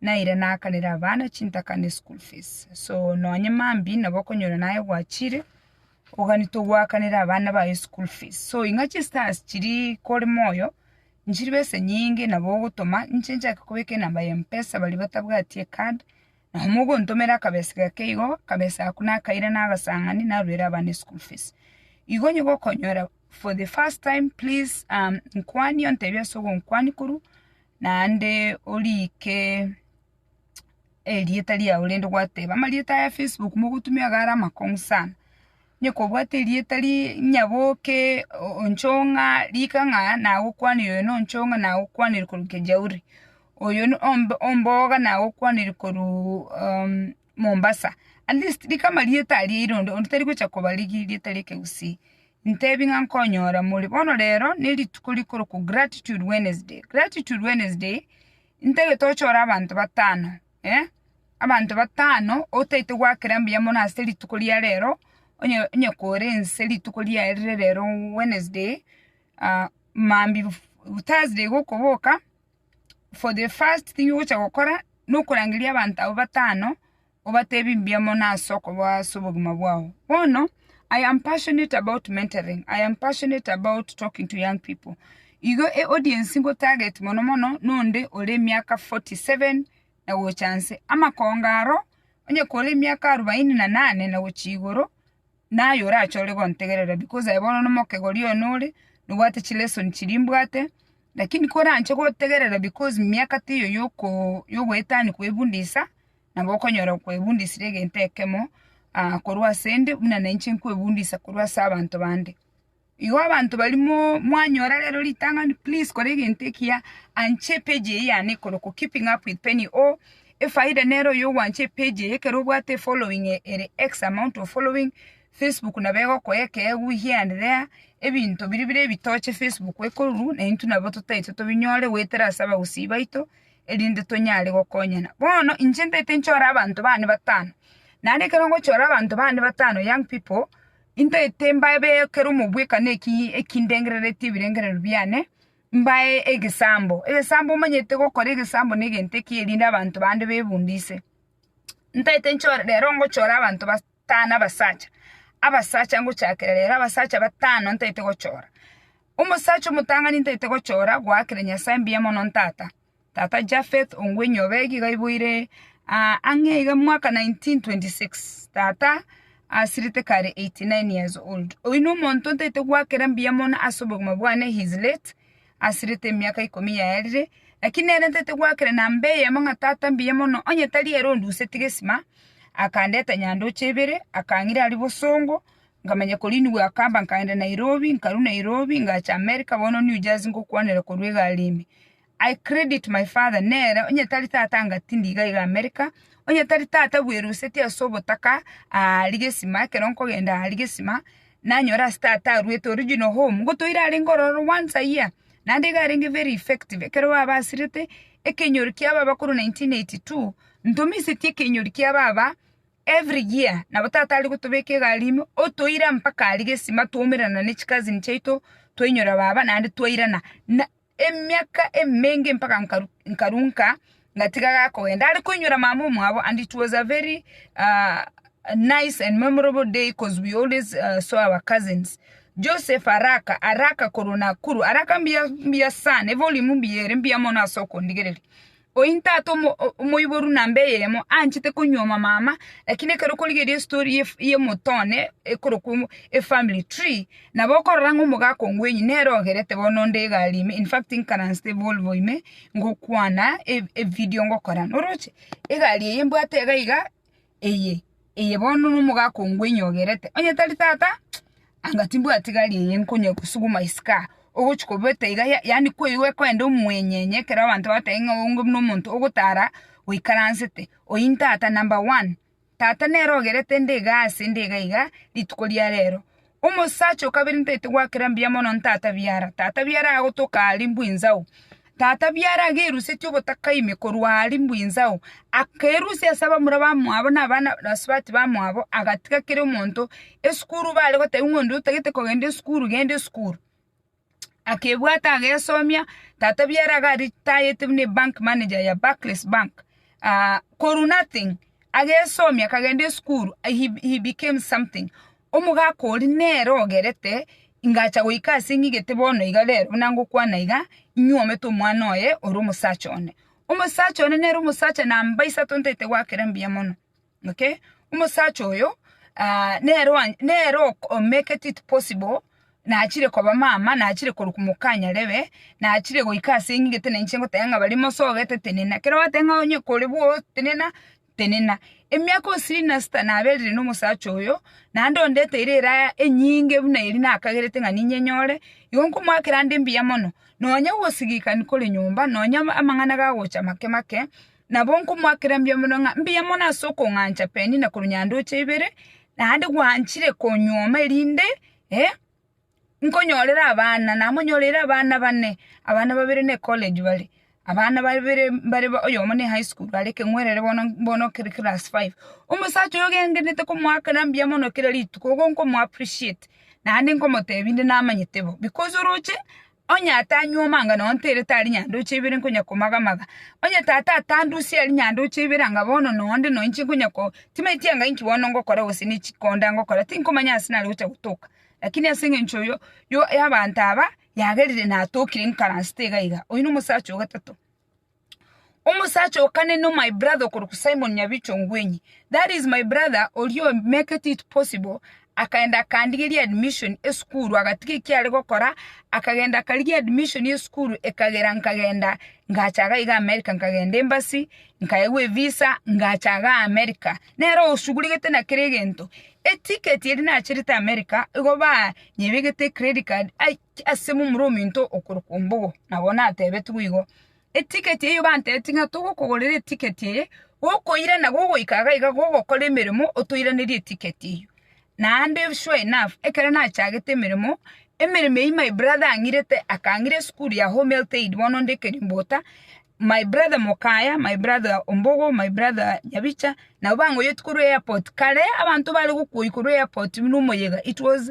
naira nakanere abana chintaka ne school fees. So nonye mambi nabo okonyora naye gwachire, oganito gwakanere abana baye school fees. So ing'a chistars chiri kore moyo, nchiri besa enyinge nabo ogotoma, inche nchake kobeka enamba ya Mpesa baria batabwati ecard, nabo mogontomera akabesa gake igo, akabesa ako nakaire nagasang'ani naruere abana eschool fees. Igo onye gokonyora for the first time please nkwanie ontebie ase ogonkwania korwa naende oriike erieta riao rende gwateba amarieta aya Facebook mogotumia iga are amakong'u sana. Onye kobwate erieta rie onye boke onchong'a rika ng'a nagokwanire oyo na onchong'a nagokwanire korwa Kejauri, oyo na omboga nagokwanire korwa Mombasa, at least riko amarieta aria aire onde, onde tari gocha koba rigie rieta ria ekegusii, ntebi ng'a nkonyora more. Bono rero, ne rituko rikorokwa gratitude Wednesday. Gratitude Wednesday, ntagete ochore abanto batano, eh, abanto batano otaete goakera mbuya mono ase rituko ria rero, onye onye kore nse rituko riaye rire rero Wednesday, mambia Thursday gokoboka, for the first thing ogocha gokora nokorangeria abanto abwo batano obatebie mbuya mono ase okoba ase obogima bwao. Bono I am passionate about mentoring, I am passionate about talking to young people. Igo e audience nko target mono mono nonde ore emiaka forty seven na gocha nse. Amakonga aro, onye kore emiaka arubaini na nane na gochia igoro. Naye orache ore gontegerera because aye bono nomokegori oyo nore, nobwate chilesson chiria mbwate, lakini koranche gotegerera because miaka teiyo yoko yogoetania kwefundisa, nabo okonyora kwefundisire egento ekemo korwa asende buna nainche nkwefundisa korwa ase abanto bande. Igo abanto baria mo- mwanyora rero ritang'ani, please kora egento ekiya, ancha epeji eye yane ekorokwa Keeping Up With Penny or efaida nere oyo ogwancha epeji eye ekero obwate efollowing e- ere X amount of following, Facebook nabo egokoa ekeegu here and there, ebinto biria bire ebitoche Facebook ekoruru, na intwe nabo totaete tobinyore goetera ase abagusii baito, erinde tonyare gokonyana. Bono inche ntaete nchore abanto bane batano, naende ekero ngochora abanto bane batano, young people, Intaete mbabe ekero omobwekano eki ekindengereretie ebirengererio biane, mbae egesambo. Egesambo omanyete gokora egesambo negento eki erinde abanto bande bebunde inse. Ntaete nchore rero ngochora abanto batano abasacha, abasacha ngochakera rero abasacha batano ntaete gochora. Omosacha omotang'ani ntaete gochora goakera Nyasaye mbuya mono ntata. Tata Japheth Ongwenyobe iga aiboire aa ang'e iga mwaka 1926. Tata asirete kare 89 years old. Oyio nomonto ntaete gwakera mbuya mono ase obogima bwane he is late asirete emiaka ikomi yaerire lakini nere ntaete gwakera namba eyemo ng'a tata mbuya mono onye tari ere ondusetie gesima akandeta nyandoche ibere akang'ira aria bosongo nkamanya korinigwa akamba nkagenda Nairobi nkarwa Nairobi ngacha America bono New Jersey ngokwanera korwa egari ime. I credit my father nere onye tari tata anga tindi iga iga America, onye tari tata bweruseti ase obotaka aa rigesima ekero nkogenda aa rigesima nanyora ase tata arwete original home ngotoire arenge ororo once a year naende iga arenge very effective ekero babasirete ekenyoro kia baba korwa 1982 ntomiseti ekenyoro kia baba every year nabo tata are gotobeka egari ime otoire mpaka aa rigesima twaumerana ne chicousin chiaito twainyora baba naende twairana na. emiaka emenge mpaka nkarunka ngatiga gakogenda are koinyora mama omwabo and it was a very uh, nice and memorable day cause we always uh, saw our cousins Joseph Araka Araka korwa Nakuru Araka mbuya mbuya sana evolume mbuya ere mbuya mono ase okondigereria Ointe ate omoiboru namba eyemo anchete konyuoma mama lakini ekero okorigereria estory y'omonto one ekorokwa efamily tree nabo okorora ng'a omogaka ongwenyi nere ogerete bono onde egari ime in fact nkaransete volvo ime ngokwana evidio ngokora noroche egari eye mbwate iga iga. eye, eye bono nomogaka ongwe nyogerete, onye tari tata, anga timbwati gari eye nkonye kosuguma isiko aa, ogochi kobeta iga ya yaani kwa igo ekoenda omwenyenye ekero abanto bagotebi ng'a onge buna omonto ogotara oikaransete, oyio ntata number one, tata nere ogerete nde iga ase nde iga iga rituko ria rero, Omosacha o kabere ntaete gwakera mbuya mono ntata biara, tata biara agotoka aria mbwinzao. Tata biara agerusetie obotaka ime korwa aria mbwinzao, akerusia ase abamura bamwabo na abana na basubati bamwabo, agatiga kera omonto esukuru bare gotebi ng'a onde otagete kogenda esukuru, genda esukuru. akebwata agesomia, tata obiere iga aritayete buna ebank manager ya Barclays bank, korwa nothing agesomia akagenda esukuru he became something, omogaka oria nere ogerete ingacha goika ase ng'igete bono iga rero buna ngokwana iga, inywomete omwana oye ore omosacha one. Omosacha one nere omosacha namba isato ntaete goakera mbuya mono. okay, omosacha oyo nere oa nere o make it possible nachire koba mama, nachire korwa komokanyarebe, nachire goika ase ng'a gete nainche ngoteba ng'a bare mosa ogete tenena, ekero gwateba ng'a onye kore bwoo tenena, tenena. Emiaka osiri na sita naberire na omosacha oyo, naende ondeteire eraya enyinge buna eri nakagerete ng'a ninye nyore, igo nkomoakera ande mbuya mono, nonya gosigikani kore nyomba, nonya amang'ana gagocha make make. Nabo nkomoakera mbuya mono ng'a mbuya mono ase okong'ancha Penina korwa nyandoche ibere, naende gwanchire konyuoma erinde nkonyorere abana. Namonyoreire abana bane, abana babere ne ecollege bare, abana babere mbare oyomo ne ehigh school are ekeng'werere bono bono kere class five. Omosacha oyo gengenete komoakera mbuya mono kera rituko, igo nkomo appreciate, naende nkomotebi inde namanyete bo, because oroche Onye atanywa omangano onto ere tari nyandoche ibere nkonya komaga-maga. Onye tata atandusia eri nyandoche ibere anga bono nonde noinche nkonya ko timanyeti anga inki bono ngokora gose nechi konde angokora tinkomanya ase nare gocha gotoka. Lakini ase engencho yo yo y'abanto aba yagerire natokire nkaransete iga iga. Oyio nomosacha o gatato. Omosacha oo kane no my brother okorokwa Simon Nyabicho Ngwenyi. That is my brother oria o make it possible akaenda akandigeria admission esukuru agatiga ekiare gokora akagenda akarigia admission esukuru ekagera nkagenda ngacha iga iga America nkagenda embassy nkaegwa evisa ngacha iga America. Nere osuguregete na kera egento. Eticket eria nacherete America igo banyebegete ecredit card ai ase momura ominto okorokwa Ombogo, nabo natebetigwe igo. Etiketi eyio bantebetie ng'a togokogorera etiketi eye, gokoirana gogoika iga iga gogokora emeremo otoiranerie etiketi eyio. Naende sure enough, ekero nachagete emeremo, emeremo eyio my brother ang'irete akang'ira esukuru ya Home Health Aid bono nde Kerimbota, my brother Mokaya, my brother Ombogo, my brother Nyabicha, nabo bang'oyoti korwa airport. Kare abanto bare gokuoyia korwa airport buna omoyega it was.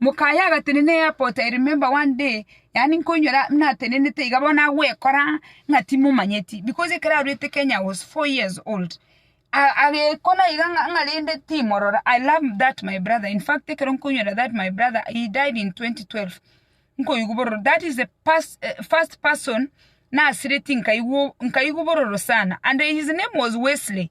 Mokaya agatenena eairport, I remember one day, yaani nkoinyora natenenete iga bono agwekora ng'a timomanyeti because ekero arwete Kenya I was four years old. A- agekona iga ng'a ng'a rende timorora, I love that my brother, in fact ekero nkoinyora that my brother, he died in 2012, nkoigwa bororo, that is the pers- eh, first person nasiretie nkaigwa o- nkaigwa bororo sana and his name was Wesley.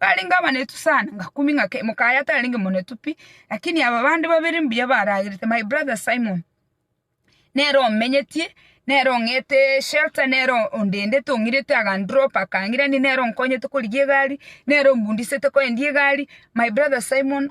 Barenge abanetu sana, ngakumia ng'ake, mokaye atarenge monetu pi, lakini aba bande babere mbuya baragerete, my brother Simon, nere omenyetie, nere ong'ete shelter, nere ondendete ong'irete akandrop akang'irani, nere onkonyete korigia egari, nere ombundisete koendia egari, my brother Simon.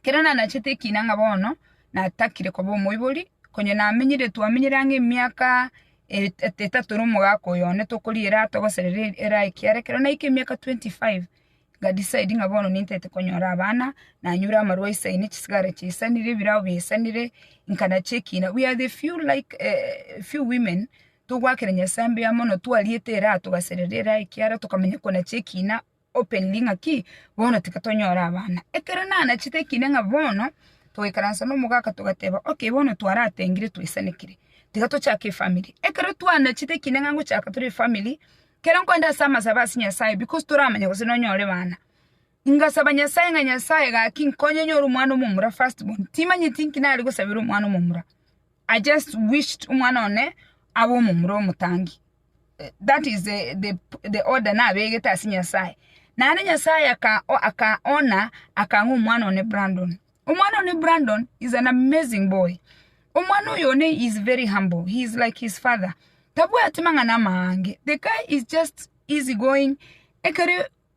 Ekero nanachete ekiina ng'a bono natakire koba omoibori, konya namenyire twamenyire ang'e emiaka etato na omogaka oyo one tokoriera togoserera era ekiara ekero naika emiaka twenty five, nga decide ng'a bono nintete konyora abana, nanyure amarwa aisaine chisigara chiaisanire, ebirao biaisanire, nkanache ekiina. We are the few like few women togwakera Nyasae mbuya mono twariete eraha togaserera eraha ekiara tokamanya konacha ekiina. opened ng'aki bono tiga tonyore abana. Ekero nanachete ekinde ng'a bono togoikaransa nomogaka togateba okay bono twaratengire twaisanekire tiga tochake efamiri. Ekero twanachete ekinde ng'a ngochaka tore efamiri, kero nkogenda ase amasabe ase Nyasaye because toramanya gose nonyore bana, ngasaba Nyasaye ng'a Nyasaye gaki nkonye nyore omwana omomura first born. Timanyeti nki nare gosabera omwana omomura. I just wished omwana one abe omomura omotangi. That is the the the order nabegete ase Nyasaye. Naende Nyasaye aka aka ona akang'a omwana one Brandon. Omwana one Brandon is an amazing boy. Omwana oyo one is very humble. He is like his father. Tabwati mang'ana amaange. The guy is just easy going. Ekero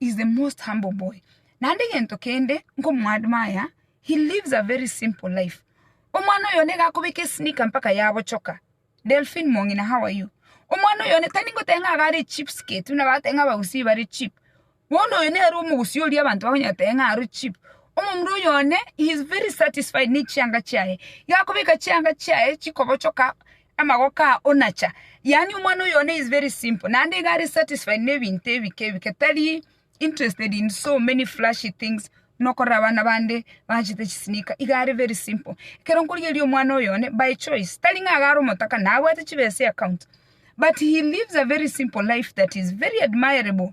is the most humble boy. Naende egento kende nkomoadmire, he lives a very simple life. Omwana oyo nigo akobeka esneaker mpaka yabochoka. Delphine Mong'ina, how are you? Omwana oyo one, tari ngoteba ng'a iga are cheap skate, buna bagoteba ng'a abagusii bare cheap. Bono oyo nere omogusii oria abanto bakonyara goteba ng'a aro cheap. Omomura oyo one, he is very satisfied nechianga chiaye. Igo akobeka chianga chiaye chikobochoka, Amagoko aa onacha. Yaani omwana oyone is very simple naende iga are satisfied nebinto ebike ebike tari interested in so many flashy things buna okorora abana bande baanchete chisneaker iga are very simple. Ekero nkorigereria omwana oyone by choice tari ng'a iga are omotaka na abwate chibesa eaccount but he lives a very simple life that is very admirable.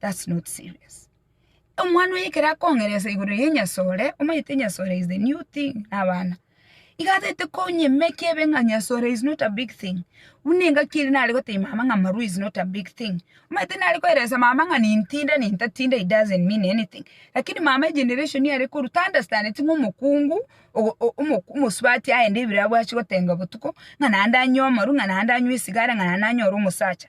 that's not serious. Omwana oye ekero akong'eresa igoro y'enyasore, omanyete enyasore is the new thing na abana, iga atagete konyemekia ebe ng'a nyasore is not a big thing, buna engaki ere nare gotebia mama ng'a marwa is not a big thing, omanyete nare koelesa mama ng'a nintinde nintatinde it doesn't mean anything, lakini mama egeneration are korwa taunderstandeti ng'a omokungu ogo o- omo- omosubati aende ebiro abwati gotenga botuko, ng'a naende anywe amarwa, ng'a naende anywe esigara, ng'a naende anyore omosacha.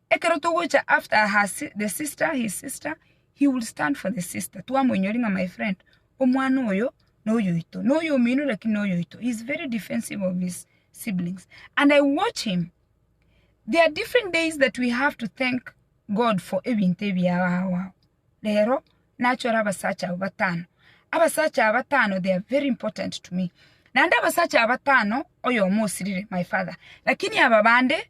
Ekero togocha after her the sister his sister he will stand for the sister twamoinyori ng'a my friend omwana oyo noyoito noyo omino lakini noyoito he is very defensive of his siblings and I watch him there are different days that we have to thank God for ebinto ebi abagoa rero nachore abasacha aba batano abasacha aba batano they are very important to me naende abasacha aba batano oyomo osirire my father lakini aba bande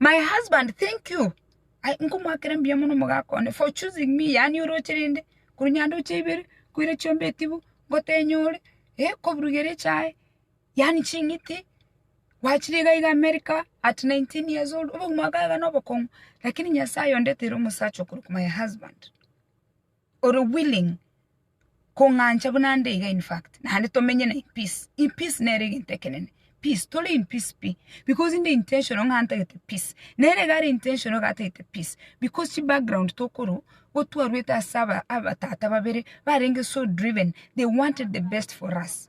My husband thank you Ai, nkomoakera mbuya mono omogaka one for choosing me yaani oroche rende korwa nyandoche ibere koira chiombe etibu ngotenya ore eh koburugera echae yaani ching'iti gwachire iga iga America at 19 years old obogima bwa kaye iga nobokong'u lakini Nyasaye ondeteire omosacha okorokwa my husband ore willing kong'ancha buna nde iga in fact, naende tomenye na in peace. In peace nere egento ekenene, peace, tore in peace pi, because inde intentional ng'a ntagete peace, nere iga are intentional iga atagete peace, because chibackground tokorwa igo twarwete ase aba abatata babere barenge so driven, they wanted the best for us.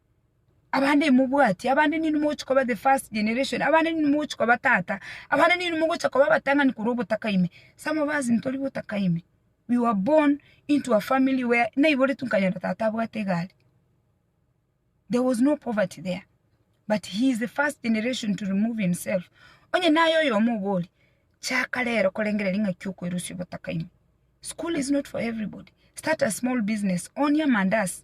abande imobwati, abande ninwe mogochia koba the first generation, abande ninwe mogochia koba tata, abande ninwe mogochia koba abatang'ani korwa obotaka ime. Some of us ntori botaka ime, we were born into a family where naiboretwe nkanyora tata abwate egari, there was no poverty there, but he is the first generation to remove himself. Onye naye oyomo obori, chaka rero korengereria ing'aki okoerosia obotaka ime. School is not for everybody, start a small business, onie amandazi.